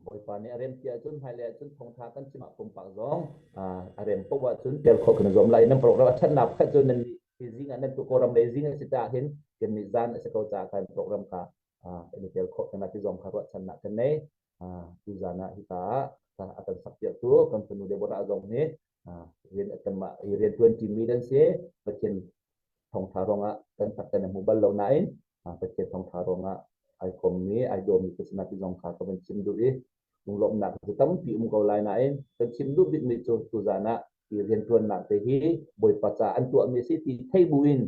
Bawipa nih a rem ti ahcun hmailei ahcun thawngtha kan chimah pumpak zong a rem poh ahcun ter khawh kan zuam lai. Nan program a ṭhatnak pakhat cu nan hi zing ah nan tu Kawlram lei zing a si caah hin kan nih zan a si ko caah kan program ka kan i tel khawh kan ti zong kha ruahchannak kan nei. Tu zan ah hika ah a kan sakpiak tu kan fanu Deborah zong nih rian a tam ah riantuan ṭimi nan si Pathian thawngṭha ruangah kan fak kan hmu bal lo nain Pathian thawngṭha ruangah ai kommi ai dawmi ka sinah ti zong kha ka van chim duh i lunglawmhnak cu tampi um ko lai nain kan chim duh bikmi cu tuzan ah i riantuannak te hi Bawipa ca an tuahmi si ti thei buin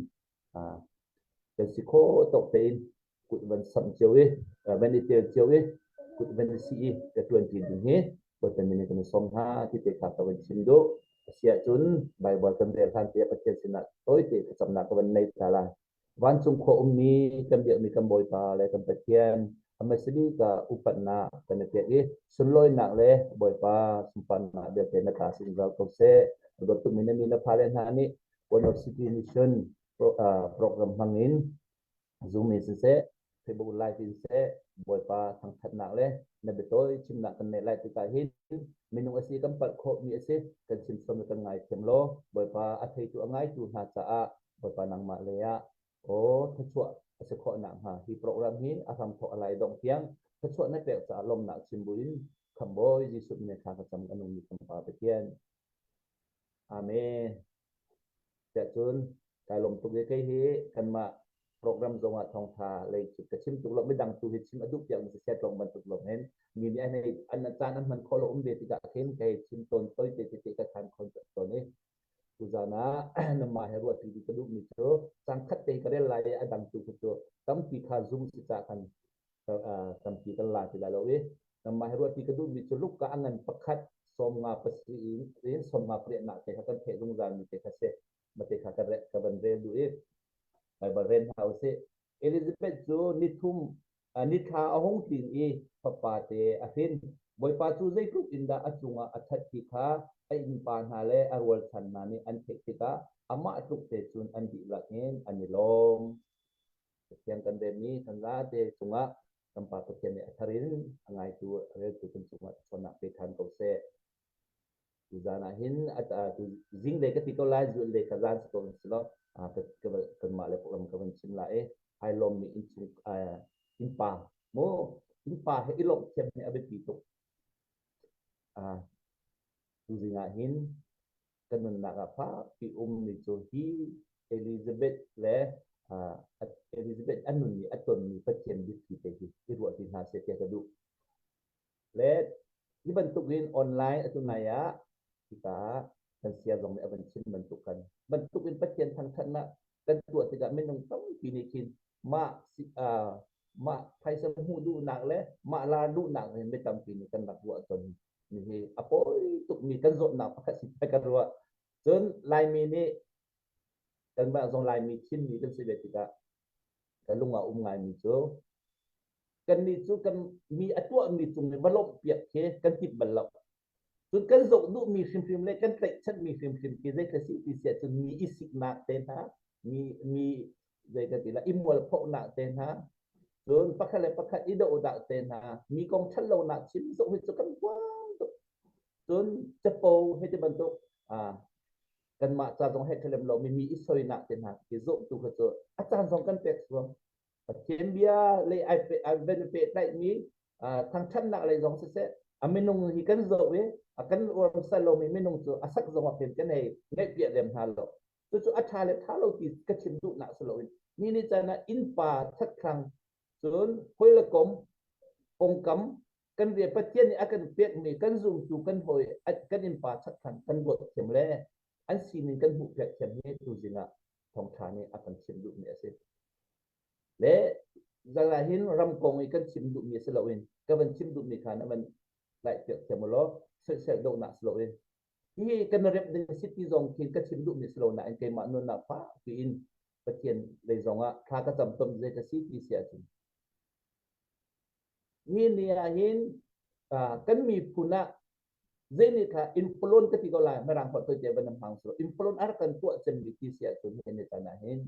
Kan si khawh tok tein kut van samh cio i, van i tel cio i, kut van i si i, ka tuanti ding hi, Pathian nih kan i som hna ti te kha ka van chim duh. Asiah cun Baibal kan rel hlan te Pathian sinah tawite thlacamnak ka van nei ta lai. Vancung khua ummi kan biakmi kan Bawipa le kan Pathian amasimi ka upatnak kan i pek i sunlawinak le Bawipa sunparnak vialte na ta zungzal ko seh. Ruat tummi na mi na fa le hna nih Kolot City nih cun program hmangin Zoom in siseh, Facebook Live in siseh, Bawipa thangthatnak le na biatawi chimnak kan neih lai tikah hin minung asi kan palh khawhmi asi kan chimchom le kan ngaithiam law Bawipa a theitu a ngaitu hna caah Bawipa nangmah lei ah aw thachuah asi khawh nak hnga hi program hi a hram thawh a lai dongh tiang thachuah na pek caah lawmnak chim buin khambawi Jesuh nih kha ka cam ka nungmi kan Pa Pathian Amen. Tiahcun kai lawm tuk i kei hi kanmah program zong ah thawngtha lei cu ka chim tuk lo midang tu hi chim a duh piak mi si set lawng bantuk lawng hin mi nih an ei an caan an hman khawh lo um ve tikah khin kei chim tawn toi te te te ka than khon tawn i tuzan ah na mah he ruah ti ka duh mi cu sangkhat te ka rel lai i a dang tu cu tampi kha zoom si ca kan tampi kan la ti lai lo i kanmah hi ruahti ka duhmi cu luka a ngan pakhat sawmnga pasarih in rin sawmnga pariat nak te kha kan theh zungzal mi te kha si ma te kha ka re ka van rel duh i Baibal rel hna u si Elizabeth cu nithum nithla a hung tlin i fapa te a hrin bawipa cu zeitluk in dah a cungah a that ti kha a innpa hna le a rualchan hna nih an theih tikah amah tluk te cun an dihlak in an i lawm Pathian kan demmi thanlate cungah kan Pa Pathian nih a thar in a ngaitu reltu kan cungah ṭhawnnak pe ṭhan ko seh. Tuzan ah hin zing le ka ti ko lai zul le ka zan si ko nan si lo kanmah le ram ka van chim lai ai lom mi innpa mu innpa he i lomh thiam hi a biapi tuk tu zing ah hin kan nunnak ah fakpi ummi cu hi Elizabeth le Elizabeth a nun i a tonmi Pathian biapi te hi i ruah ti hna seh tiah ka duh. Le hi bantukin online atu nai ah hika kan sia zong nih a van chim bantukan bantukin Pathian thangthatnak kan tuah tikah minung tampi nih khin mah mah phaisa hmuh duhnak le mah la duhnak in mi tampi nih kan rak ruah ton Nihi a pawi tukmi kan zawtnak pakhat si ka ruah. Cun Laimi nih kanmah zong Laimi thimmi kan si ve tikah ka lung a um ngaimi cu kannih cu kan mi a tuahmi cung i va lawmh piak khi kan timh bal lo. Cun kan zoh duhmi hrimhrim le kan tlaihchanmi hrimhrim khi zeikhla si ti siah cun mi isiknak te hna, mi mi zeitatilah i mualphohnak te hna cun pakhat le pakhat i dohdah te hna mi kong ṭhat lonak chim zong hi cu kan puang tuk cun capo hei ti bantuk kanmah ca zong he khalem lomi mi i soinak te hna i zawhtu kha cu a caan zong kan pek suam pathian bia lei ai pe ai ven pe tlaihmi thangthatnak lei zong siseh a minung hi kan zoh i a kan uarmsa lomi minung cu a sak zong ah hin kan ei ngaihpiah lem hna lo cucu a tha le tha lo ti ka chim duhnak si loin ni ni can ah innpa thatkhang cun hoile kom pongkam kan rie pathian nih a kan pekmi kan zumtu kan hoi kan innpa thatkhang kan ruat thiam le an sinin kan hmuh pek thiam hi tu zingah thawngtha nih a kan chim duhmi a si le zan ah hin ram kong i kan chim duhmi si loin ka van chim duhmi kha na van piak thiam law soisel dohnak si loin hi kan remh ding si ti zong khi ka chim duhmi si lo nain keimah nunnak fak piin Pathian lei zongah thla ka cam tom zei ka si ti si ahcun hi ni ah hin kan miphun ah zei ni kha inflon ka ti ko lai marang hot to te ban nam hang so inflon ar kan tuah chem bi ti si ahcun he ne tan hin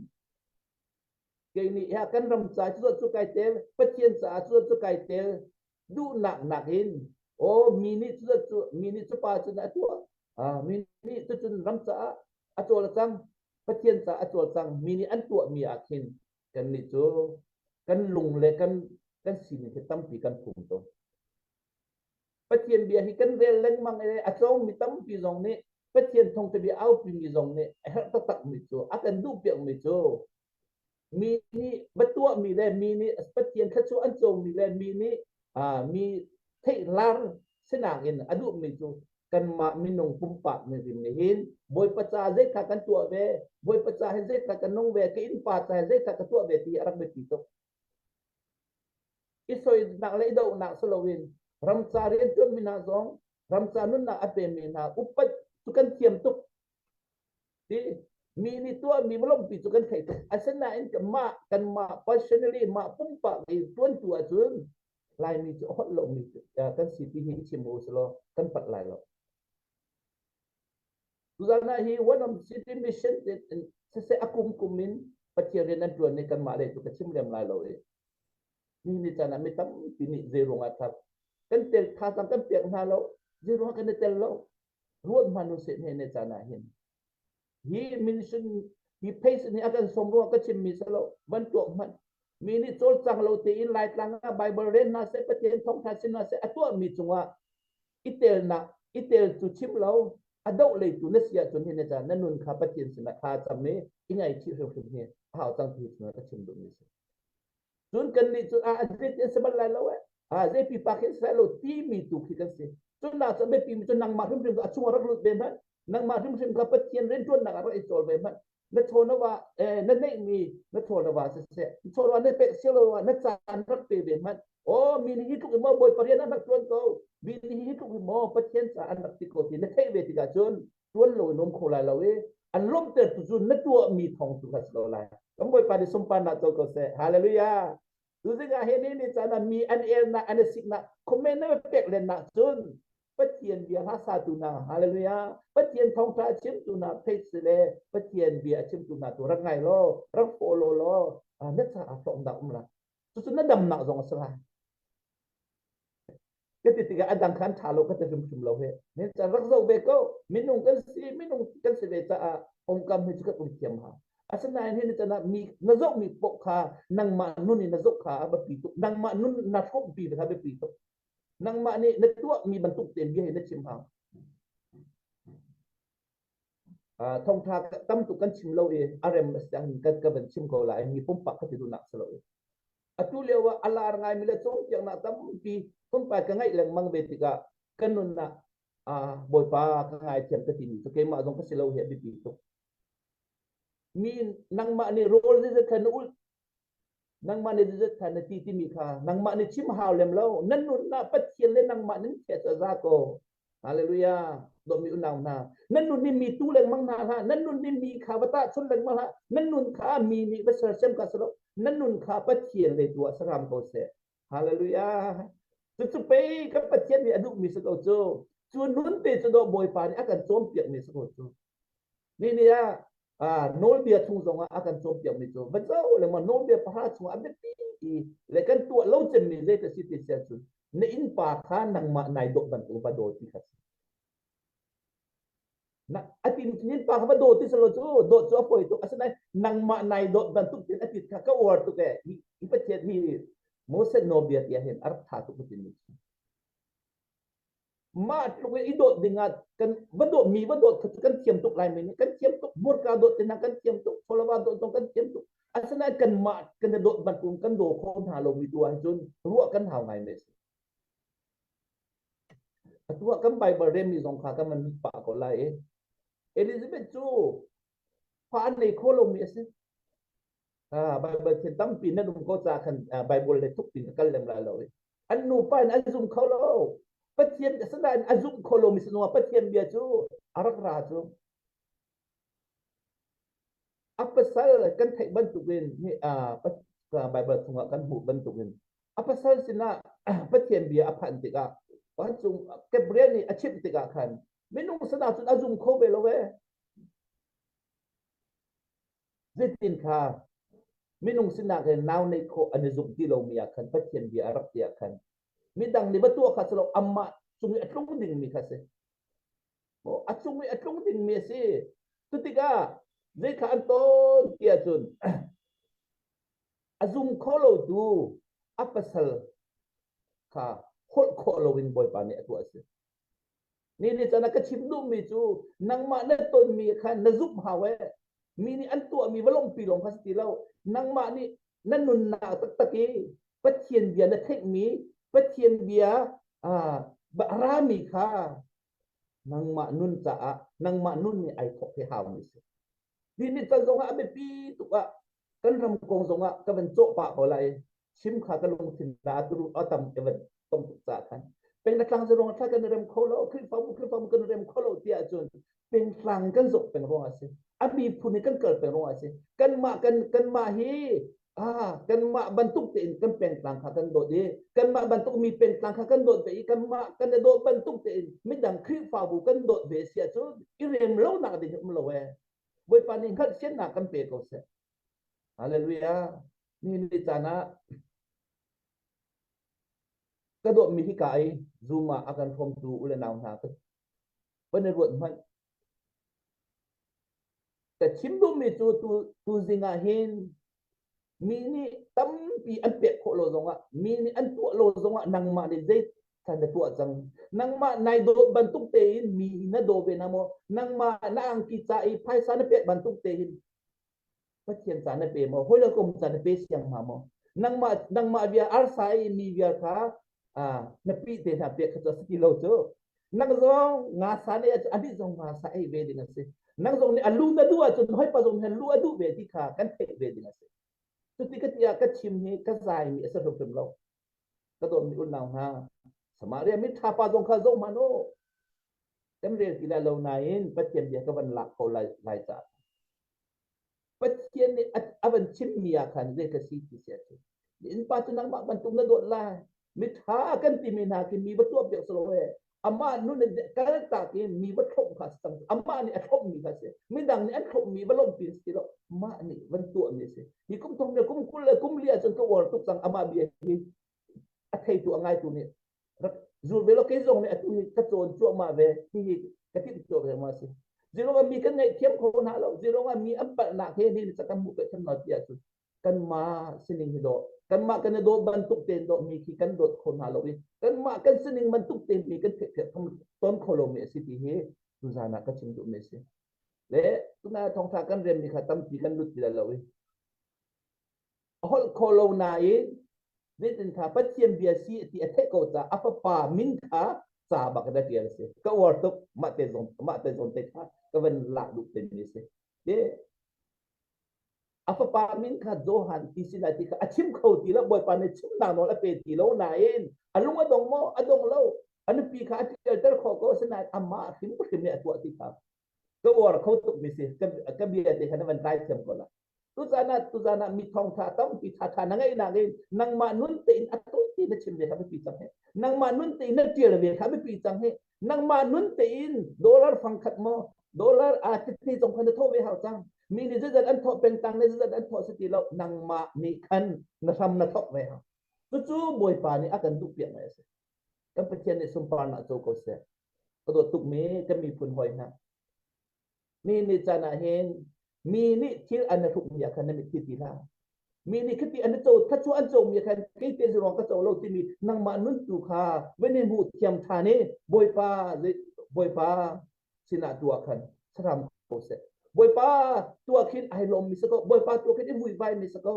kei nih ya kan ram ca cu cu kai tel Pathian caah cu cu kai tel duhnak nak in o mi nih cu cu mi nih cu pa cun a tuah mi nih tu cun ram caah a cawl cang Pathian caah a cawl cang mi nih an tuah mi ah khin kan nih cu kan lung le kan kan sining hi tampi kan phum tung Pathian bia hi kan rel lengmang i a tlawmmi tampi zong nih Pathian thawngṭhabia aupimi zong nih a herh taktakmi cu a kan duhpiakmi cu mi nih va tuahmi le mi nih Pathian thluachuah an cawmi le mi nih mi theihlar sinak in a duhmi cu kanmah minung pumpak rim nih hin Bawipa ca zeitlak kan tuah ve Bawipa ca hi zeitlak kan nung ve ka innpa ca hi zeitlak ka tuah ve ti a rak biapi tuk i soinak le i dohnak si loin ramca rianṭuanmi hna zong ramca nunnak a pemi hna upat cu kan thiam tuk ti mi nih tuahmi lawmhpi cu kan thei tuk asinain mah kan mah personally mah pumpak i ṭuantu ahcun laimi cu a holh lomi kan si ti hi i chim u silo kan pat lai lo Tuzan hna hi one of city mission siseh a kum kum in Pathian rian an tuan ni kanmah le cu ka chim lem lai lo i ni ni can ah mi tampi nih zeirung ah that kan tel tha cang kan piak hna lo zeirung ah kan i tel lo ruat hman nu seh ne ne can ah hin hi mission hi phase ni a kan som ruang ka chim mi sa lo van tuah hman mi nih cawlcang lo te in lai tlang ah Bible ren na se Pathian thong tha sin na se a tuah mi cungah i telnak i tel tu chim lo a doh lei tu na si ahcun hin na nun kha pathian sinah kha cam i i ngaichih hrimhrim hi a hau cang ti chungah ka chim duh mi si cun kan nih cun ah an an si bal lai lo eh a zei pipa khi sai lo ti mi tu khi kan si cun na cha be pi mi cun nangmah hrimhrim a chung rak lut ve hman nangmah hrimhrim kha pathian rian tuannak rak i chol ve hman na thaw na wa eh, na neih mi na thaw na wa siseh thaw na na pe sia lo na chan rak pe ve man oh mi ni hi tluk mo boi parian na tuan ko mi ni hi tluk mo pathian cha an rak ti ko ti na thei ve tika chun tuan lo nom kho lai lo e an lom ter tu zun na tua mi thong tu gas lo lai kam boi pa ni sumpan na to ko se hallelujah tu zinga he ni ni chana mi an el na an sik na comment na pek len na chun Pathian bia hna satu hna hallelujah Pathian thawngtha a chimtu hna phei si le Pathian bia a chimtu hna tu rak ngai law rak follow law na caah hlawm dah um la cucu na damnak zong a si lai ka ti tikah adang khan tha lo ka ti hrimhrim lo he ne cha rak zo ve ko minung kan si minung kan si ve caah ongkam hi chu ka uli thiam ha asinain hi ni chana mi na zok mi pok kha nangmah nun in na zok kha a bapi tuk nangmah nun na hrom pi va be pi tuk nangmah nih na tuahmi bantuk tein bia hi na chim hang uh, thongtha tam tuk kan chim lo i a rem a siang kan ka van chim ko lai mi pumpak ka ti tu nak salo i atu leo a alar ngai mi le chong tiang na tampi pumpat ka ngai leng mang ve tikah kan nun na boipa ka ngai thiam ka ti ni so keimah zong ka silo he bipi tuk mi nangmah ni role ni zakhan ul nangmah le zat kha na ti timi kha nangmah ni chim hau lem lo nan nunnak pathian le nangmah nan khet a za ko hallelujah domi unau hna nan nun ni mi tu lengmang hna hlah nan nun ni mi kha vata chun lengmang hlah nan nun kha mi nih va ser sem ka salo nan nun kha pathian le tua saram ko se hallelujah cu pei kan pathian nih a duh mi sa ko cu cu nun te cu do bawipa nih a kan cawm piak mi sa ko cu Nini ah nawlbia chung zong ah a kan cawnpiakmi cu va co le ma nawlbia pahra chung ah biapi i le kan tuah lo cemmi zei ta si ti sian cun na innpa kha nangmah nai dawh bantuk va daw ti kha si. Na a tin innpa kha va daw ti salo cu dawt cu a poi tuk asinain nangmah nai dawt bantuk tin a tit kha ka uar tuk e i Pathian hi Moses nawlbia tiah hin a rak tha tuk cu tin mah tluk i dawt dingah kan va dawt mi va dawt kha kan thiam tuk lai men kan thiam tuk burka dawt te kan thiam tuk cholava dawt zong kan thiam tuk asinain kan mah kan dawt bantuk kan daw kho hna lo mi tu ahcun ruah kan hau ngai me si atuah kan bible remi zong kha kan man mi pa ko lai Elizabeth cu fa nei kho lo mi a si Ah, Baibal thil tampi nan um ko ca khan ah, Baibal le tuk tin a kal lem la lo. An nupa in an zum kho lo. Pathian asinain a zum kho lo mi sinua Pathian bia cu a rak ra cu. A pasal kan theih bantuk in Baibal chungah kan hmuh bantuk in a pasal sinah Pathian bia a phan tikah vancung Gabriel nih a chimh tikah khan minung sana cun a zum kho ve lo ve. Zeitin kha minung sinah khin nau neih khawh an i zumh ti lomi ah khan Pathian bia a rak ti ah khan midang nih va tuah kha si lo amah cung i a tlung dingmi kha si. Oh, a cung i a tlung dingmi a si. Cutikah zei kha an tawn ti ahcun a zum kho lotu a pasal kha holh khawh loin Bawipa nih a tuah a si. Ni nih caan ah ka chim duhmi cu nangmah na tonmi kha na zumh hau e. Mi nih an tuahmi va lawngpi lawng kha si ti lo. Nangmah nih na nunnak taktak i Pathian bia na theihmi, Pathian bia aa a rami kha nangmah nun caah nangmah nun nih ai thawk hi haumi a si. Ti nih can zongah a biapi tuk ah kan ram kong zong ah ka van cawh pah ko lai sim kha ka lungthin da turu atam ke van tom tuk ca khan peng na tlang zerong thla kan rem kho lo khrifamu khrifamu kan rem kho lo tiah cun peng tlang kan zok peng rong asi ami phun kan kal peng rong asi kan mah kan kan mah hi ah kan mah bantuk te in kan peng tlang kha kan dot i kan mah bantuk mi peng tlang kha kan dot ve i kan mah kan dot bantuk te in midang khrifabu kan dot ve sia cu i rem lo nak ding um lo e Bawipa nih hngalhsiannak kan pe ko seh. Hallelujah. Nihin ni caan ah ka dawtmi hika i Zoom ah a kan hrawmtu u le nau hna ka van i ruat hmanh. Ka chim duhmi cu tu tuzing ah hin Mi nih tampi an pek khawh lo zongah, mi nih an tuah lo zongah nangmah nih zeithan na tuah cang. Nangmah nai dawt bantuk tein mi na daw ve na maw, nangmah na angki ca i phaisa na pek bantuk tein Pathian ca na pe maw, hawi le kom ca na pe siang ma maw. Nangmah nangmah bia arsa i mi bia kha na pi te hna pek kha cu a si ti lo cu nang zong nga sa ne a dih zong nga sa ei ve ding a si nang zong nih a lu na duh ahcun hoi pa zong nih lu a duh ve ti kha kan theih ve ding a si cuti ka tiah ka chim hi ka zai mi a si hrimhrim lo ka dawt mi unau hna Samaria mi tha pa zong kha zoh hman u kan rel ti lai lo nain Pathian bia ka van lak ko lai lai ca Pathian nih a van chimmi ah khan zei ka si ti sia cu. Innpa cu nangmah bantuk na dawt lai. Miṭha kan timi hna khi mi va tuah piak selaw he amah nun in kaltak i mi va thlawmh kha a si cang. Amah nih a thlawmmi kha a si. Midang nih an thlawmmi va lawmhpi a si ti lo. Mah nih van tuahmi a si. Hi kum thong le kum kul le kum li ahcun ka uar tuk cang amah bia hi. a theitu a ngaitu nih rak zul ve lo kei zong nih atu hi ka cawn cuahmah ve hihi ka timh cio ve ma si zilong mi kan ngaih thiam kho hna lo zilong mi an palhnak he ni sa kan hmuh ka tham no ti ah cun kanmah sining hi do kanmah kan i dawt bantuk tein do mi khi kan dawt kho hna lo i kanmah kan sining bantuk tein mi kan thek thek thong ton kho lo mi a si ti hi tu zan ah ka chim duh mi si le tuna thongtha kan rem mi kha tampi kan lut ti lo i a holh kho lo nain zeitin kha Pathian bia si ti a theih ko caah a fapa min kha ca bak da tial si ka uar tuk mah te zon mah te zon te kha ka van lak duh te mi si te a fapa min kha Johan ti si lai ti kha a chim kho ti lo bawipa ne chim na nawl a pe ti lo nain a lung a dong mo a dong lo a nupi kha a tialter kho ko sinain amah hrim hrim ne a tuah ti kha ka uar kho tuk mi si ka bia te kha na van kai thiam ko la tuzan ah tuzan ah mi thong tha tampi tha tha na ngei na ngei nangmah nun te in atu ti na chim ve kha bi pi chang he nangmah nun te in na tial ve kha bi pi chang he nangmah nun te in dollar fang khat mo dollar a ti chong khan tho ve hau chang mi ni zat an tho peng tang ne zat an tho se ti lo nangmah ni khan na sam na thok ve ha tu chu boy pa ni akan du piak mai ase kan Pathian nih sunparnak co ko seh. Ka dawt tukmi kan miphun hoi hna. Mi nih caan ah hin mi nih thil an na hrukmi ah khan na mit ti hna. Mi nih khiti an na co thachu an comi khan kei te ruang ka co lo timi nangmah nun tu kha venin hmu thiam than i Bawipa Bawipa sinah tua khan saram ko seh. Bawipa tua khin ai lom mi sako Bawipa tua khin i vui vai mi sako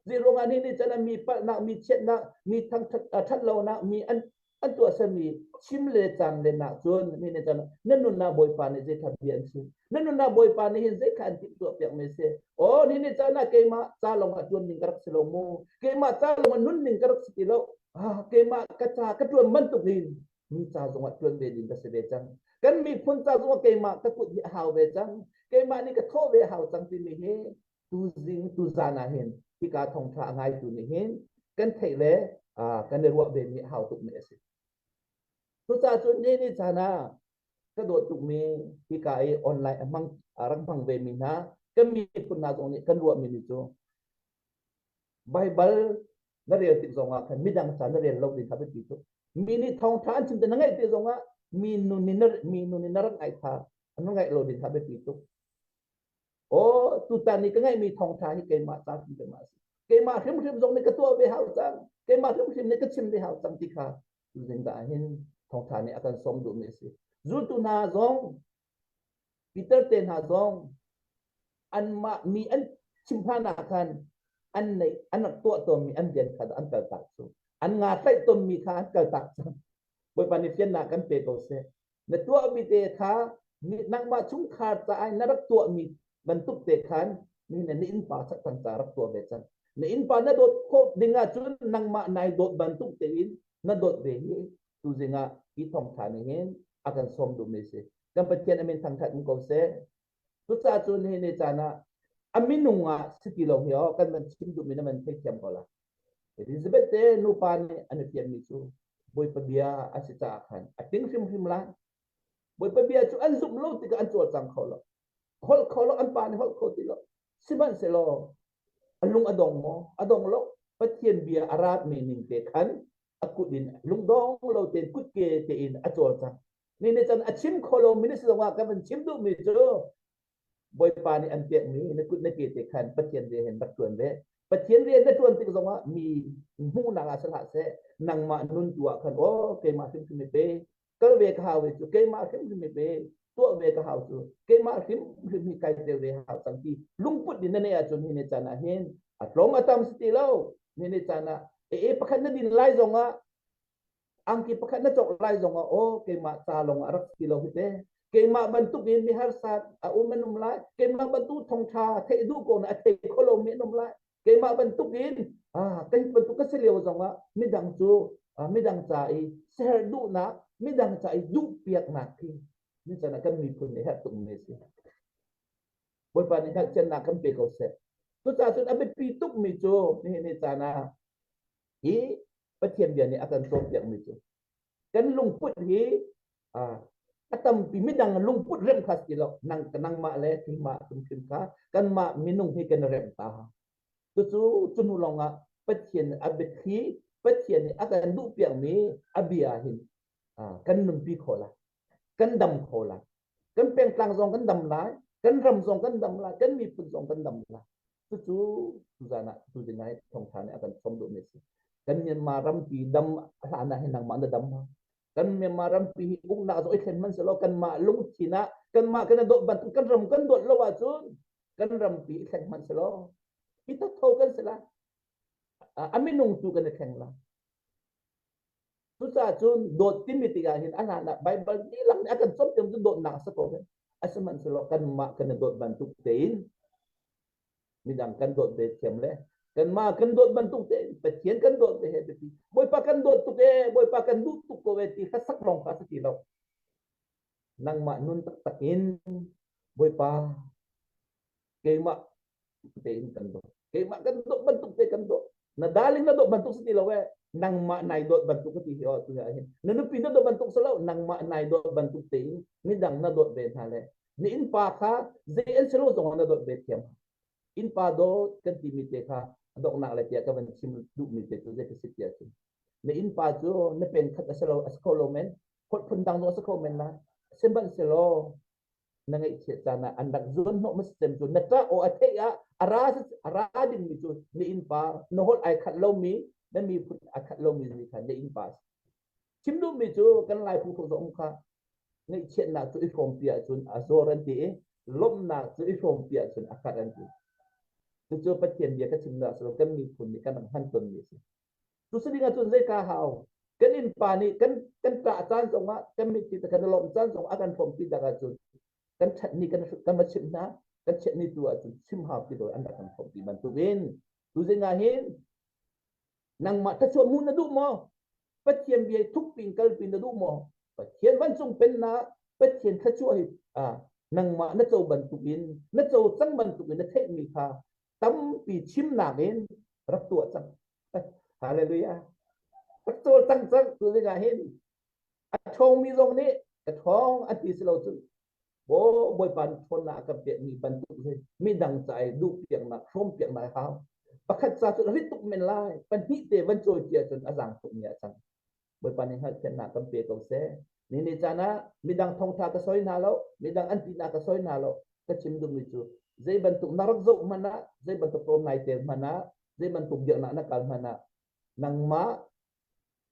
Zei ruangah nih nih cun mi palhnak, mi chiatnak, mi thangthat lonak mi an an tuahsami chim le caan le nak cun mi nih cun na nunnak Bawipa nih zeikhat bia an chim na nunnak Bawipa nih hin zeikhat an timtuah piak me se oh ni ni cana keimah ca lawngah tuan ning ka rak si lo mu keimah ca lawngah nun ning ka rak si ti lo ah keimah ka ca ka tuan bantuk hin mi ca zongah tuan ve ding ka si ve cang kan miphun ca zongah keimah ka kut hi a hau ve cang keimah nih ka thawh ve hau cang timi hi tuzing tuzan ah hin hika thongtha a ngaitu nih hin kan theih le kan i ruah vemi a hau tukmi a si. Cucacun ni ni caan ah ka dawt tukmi hika i online a hmang rak hmang vemi hna kan miphun hna zong nih kan ruahmi ni cu Baibal na rel tik zongah khan midang ca na rel lo ding kha biapi tuk. Mi nih thawngtha an chim te na ngaih te zongah mi nun in na mi nun in na rak ngaih kha an ngaih lo ding kha biapi tuk. Aw, tutan ni ka ngaihmi thawngtha hi keimah caan in keimah si. Keimah hrimhrim zong nih ka tuah ve hau cang. Keimah hrimhrim nih ka chim ve hau cang ti kha zing da hin thawngtha nih a kan som duhmi a si. Zultu hna zong, Peter te hna zong, anmah mi an chimphan ah khan an nei an rak tuah tawnmi an rian kha an kal tak cu an nga tlaih tawnmi kha an kal tak cang. Bawipa nih fiannak kan pe ko seh. na tuahmi te kha nangmah chungkhar caah na rak tuahmi bantuk te khan mi na innpa sak kan ca rak tuah ve cang na innpa na dawt khawh ding ahcun nangmah nai dawt bantuk tein na dawt ve hi tu zingah i thong than hin a kan som dum ne si kan pathian amin thangthat ko seh Cucaah cun hi ni caan ah a minung ah si ti lo hio kan van chim duhmi na man thei thiam ko la. Elizabeth te nupa nih an i fianmi cu Bawipa bia a si caah khan a tling hrimhrim lai. Bawipa bia cu an zumh lo tikah an cawlcang kho lo. Holh kho lo an pa nih holh kho ti lo. Sihmanhsehlaw a lung a dong maw? A dong lo. Pathian bia a ratmi ning te khan a kut in lungdong lo tein kutke tein a cawlcang. Nih nih cun a chim kho lo mi na si zongah kan van chim duh mi cu Bawipa nih an pek mi na kut na ke te khan Pathian rian in rak ṭuan ve. Pathian rian na ṭuan tik zongah mi hmuhnak ah si hlah seh nangmah nun tu ah khan aw keimah hrimhrim i pe kal ve ka hau cu keimah hrimhrim i pe tuah ve ka hau cu keimah hrimhrim hi kai tel ve hau cang ti lungput in na neih ahcun hi ni can ah hin a tlawm a tam si ti lo ni ni can ah e pakhat na din lai zongah angki pakhat na cawk lai zong ah aw keimah ca lawng ah rak si lo hi te keimah bantuk in miharsa a um an um lai keimah bantuk thongtha theih duh ko na a thei kho lo mi an um lai keimah bantuk in ah kai bantuk ka si lio zong ah midang cu midang ca i ser duhnak midang ca i duh piaknak khi ni sana kan miphun ne hat tum ne si bawipa ni hat chen na kan pe ko se tu ca cun a biapi tuk mi cu ni ni cana hi Pathian bia nih a kan cawnpiakmi cu kan lungput hi a tampi midang lungput remh kha si lo nang nangmah le thingmah hrimhrim kha kanmah minung hi kan remh ta cucu cu hnu lawngah Pathian a biathli Pathian nih a kan duhpiakmi a bia hin kan nunpi kho lai kan dam kho lai kan pengtlang zong kan dam lai kan ram zong kan dam lai kan miphun zong kan dam lai cucu tuzan ah tu dingai thongtha nih akan chom duh mi si kan Myanmar rampi dam hlan ah nangmah na dam ma kan Myanmar rampi hi uknak zo i thlen man selo kan mah lung thin ah kan mah kan dot bantuk kan ram kan dot lo ah cun kan rampi i thlen man selo hi tak tho kan sela a minung tu kan thleng la Cucacun dawt timi tikah hin a hlan ah Baibal dilang nih a kan cawm cu dawtnak a si ko hei. A sihmanhsehlaw kanmah kan i dawt bantuk tein midang kan dawt ve thiam le kanmah kan dawt bantuk tein Pathian kan dawt ve he biapi Bawipa kan dawt tuk e Bawipa kan duh tuk ko e ti hlasak lawng kha a si ti lo nangmah nun taktak in Bawipa keimah tein kan dawt keimah kan dawt bantuk te kan dawt na darling na dawt bantuk si ti lo eh nangmah nai dawt bantuk ka ti hi oh tu ya hin na nupi na dawt bantuk sa lo nangmah nai dawt bantuk te in midang na dawt ve hna le ni in pa kha zei an si lo zong na dawt ve thiam in pa dawt kan ti mi te kha adok nak le tia ka van chim du mi te tu je ka sit tia chu na in pa chu na pen khat a si lo a si kho lo men khot phun dang no a si kho men na semban se lo na ngeihchiat caan ah an rak zuanhnawh masem cu na ṭah aw a theih ah a ra a ra dingmi cu na innpa na holh ai khat lomi na miphun a khat lomi zi kha na innpa chim duhmi cu kan laipu ko zong kha ngeihchiatnak cu i hrawmpi ahcun a zor an ti i lawmhnak cu i hrawmpi ahcun a khat an ti cucu Pathian bia ka chimnak silo kan miphun nih kan rak hman tonmi a si Tusanin ahcun zei ka hau? Kan innpa nih kan kan ṭah caan zongah kan mitthli te kan i lawmh caan zongah a kan hrawmpi tak ahcun kan ṭhat ni kan kan va chimh hna kan chiah ni tu ahcun chim haupi lo an rak kan hrawmpi bantukin tuzing ahhin nangmah thluachuah hmuh na duh maw Pathian bia i thukpin kalpi na duh maw Pathian vancung pennak Pathian thluachuah hi nangmah na co bantukin na co cang bantukin na theihmi kha tampi chimnak in rak tuah cang Hallelujah. Ka cawl tang cang tu ding ah hin a ṭhawngmi zong nih ka ṭhawng an ti si lo cun Bo Bawipa ṭhawn na ka peh mi bantuk hi midang ca i duh piaknak hrawm piaknak hau pakhat ca cu rit tuk men lai pahnih te van cawi cia cun a zaang tuk mi a cang Bawipa nih hngalhfiannak kan pe ko seh. Ni ni caan ah midang thawngtha ka soi hna lo, midang an tinak ka soi hna lo, ka chim dingmi cu zei bantuk na rak zoh hmanh ah, zei bantuk tlawm nai ter hmanh ah, zei bantuk dirhnak na kal hmanh ah, nangmah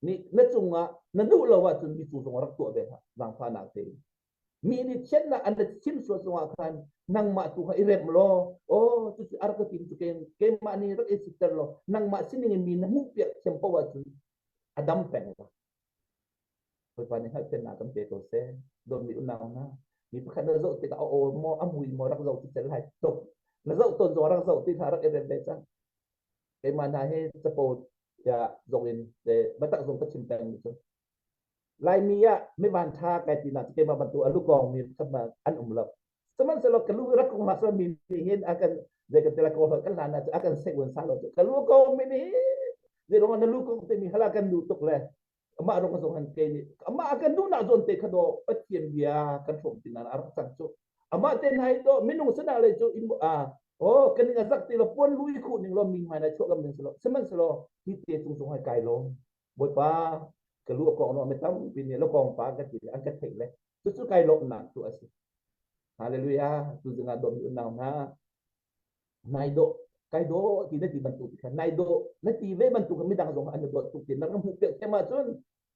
nih na cungah na duh lo ahcun mi cu zong rak tuah ve hna, zangfahnak tein. mi nih chiatnak an rat sim sual cungah khan nangmah tu kha i rem law aw cu a rak ka tim cu keimah nih rak i siter law nangmah sining in mi na hmuh piak thiam ko ahcun a dam peng la Bawipa nih hngalhpiannak kan pe ko seh dawtmi unau na mi pakhat na zoh tikah a aw maw a mui maw rak zoh ti tel hai top na zoh ton zong rak zoh ti kha rak i rem ve cang keimah hna hi capo ya zong in le batak zong ka chim peng mi cu Laimi ah mivan tha kai ti nak keimah bantuk a lukawng mi khat ma an um lo. Sihmanhsehlaw ka lu rak kong hla mi nih hin akan zei kan tela ko kan hlan ah akan sei wan sa lo ka lu ko mi nih zai rong na lu ko te mi hala kan du tuk le ama rong zong an ke ni ama akan du na zon te kha do pathian bia kan thom tin ar sang chu ama te nai do minung sana le chu im a o kan nga zak ti lo pon lui khu ning lo mi mai na cho lam ning selo semen selo hi te chung chung hai kai lo Bawipa ka lu a kong no me tampi ni lo kong pa kan ti an ka thei le cu cu kai lawmnak tu a si hallelujah tu zingah dom mi unau hna nai do kai do ti na ti bantuk kha nai do na ti ve bantuk mi dang zong an do tuk ti na ram hu pe te ma chun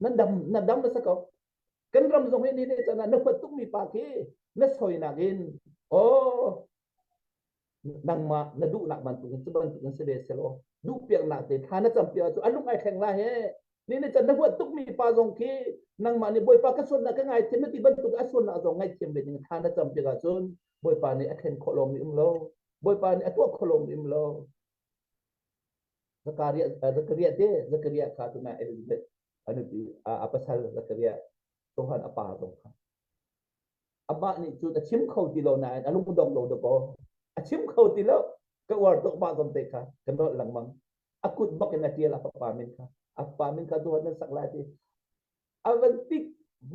na dam na dam na sako kan ram zong he ni ne chana na phot tuk mi pa khi na soi na gin o nangmah na duhnak bantuk in cu bantuk an si ve selaw duh piaknak te thla na cam piak cu a lung ai thleng la he ni na can na huat tuk mi pa zong khi nangmah nih bawipa ka suatnak ka ngai thiam na ti bantuk a suatnak zong ngai thiam ve ding thla na cam piak ahcun bawipa nih a thlen khawh lawng mi um lo bawipa nih a tuah khawh lawng mi um lo Zakaria Zakaria te Zakaria kha tu na Elizabeth anu ti a pasal Zakaria Sohan a pa zong kha Amah nih cun a chim kho ti lo nain a lungdong lo dakaw. A chim kho ti lo. Ka uar tuk mah zong te kha ka nolh lengmang. A kut bak in a ṭial a fapa min kha. A fapa min kha duhan na sak lai ti. A van tik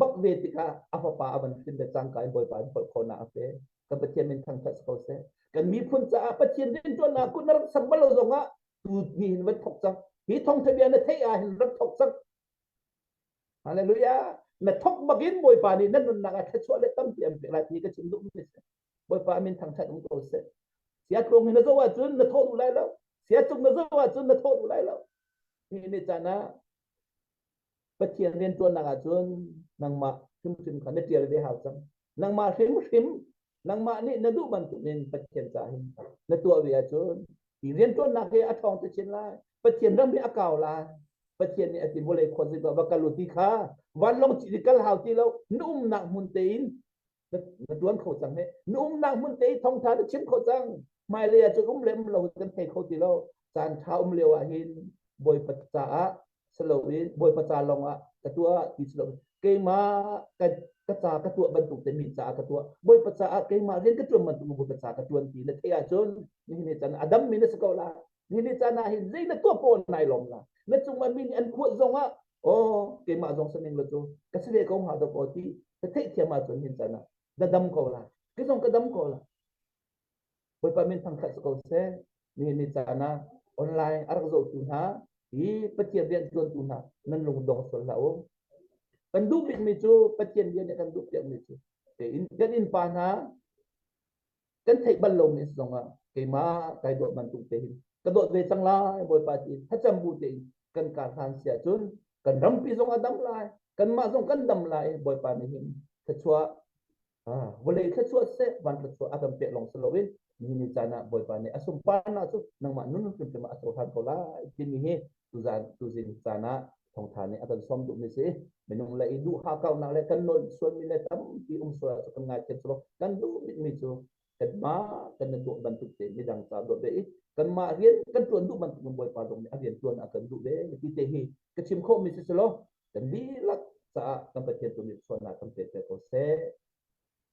bak ve tikah a fapa a van hrin da cangka in Bawipa in pol khawna a pe. Kan Pathian min thangthat ko seh. Kan miphun caah Pathian rianṭuannak kun na rak sam bal lo zongah tu ni hin van thok cang. Hi thong thabia na theih ah hin rak thok cang. Hallelujah. Na thok bakin Bawipa nih na nunnak a thluachuah le tampi an pek lai ti ka chim duh mi si. Bawipa min thangthat um ko seh. Sia tlung hin na zo ahcun na thawh duh lai lo. Sia chung na zo ahcun na thawh duh lai lo. Ini caan ah Pathian rian tuan nak ahcun nangmah hrimhrim kha na tial ve hau cang. Nangmah hrimhrim nangmah nih na duh bantukin Pathian ca hin na tuah ve ahcun i rianṭuannak hi a ṭhawng te chin lai Pathian ram hi a kau lai Pathian nih a ti vawlei khuazip ah va kal u ti kha vanlong ci kal hau ti lo na umnak hmun tein na, na tuan kho cang he na umnak hmun te i thongtha na chim kho cang hmailei ah cun um le um lo kan thei kho ti lo caan ṭha um lio ahhin bawipa caah si loin bawipa ca lawngah ka tuah ti si loin keimah ka, ka ca ka tuah bantuk te mi caah ka tuah bawipa caah keimah rian ka ṭuan bantuk bawipa ca ka ṭuan ti na theih ahcun nihin ni can adam mi na si ko la nihin ni can ah hin zei na tuah pawl nai lom la na cungah mi nih an kuat zongah oh keimah zong saning lo cu ka si ve ko hnga dok aw ti ka theih thiam ahcun hin can ah dadam ko la kizong ka dam ko la Bawipa min thangṭhat si ko seh. Nihin ni caan ah online a rak zohtu hna i Pathian rian ṭuantu hna nan lungdong sual hlah u. Kan duh bikmi cu Pathian bia nih kan duh piakmi cu tein kan innpa hna kan theih bal lomi a si zongah keimah kai dawt bantuk tein ka dawt ve cang lai Bawipa ti thlacam bu tein kan kar hlan si ahcun kan rampi zong a dam lai kanmah zong kan dam lai Bawipa nih hin thluachuah vawlei thluachuah seh van thluachuah a kan pek lawng si loin ni ni caan ah Bawipa nih a sunparnak cu nangmah nun hrimhrim ah a cohlan ko lai timi hi tuzan tuzin caan ah thawngtha nih a kan sawm duhmi si minung le i duh hakaunak le kan nawl sualmi le tampi um sual cu kan ngaithiam silo kan duh mi cu Kanmah kan nan tuah bantuk te midang ca duat ve i kanmah rian kan tuan duh bantuk nan Bawipa zong nih a rian tuan ah kan duh ve ti te hi ka chim khawhmi si selaw kan dihlak caah kan Pathian tu nih sualnak kan pek ko seh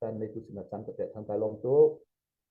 kan neitu sinah can ka pek thang ka lawm tuk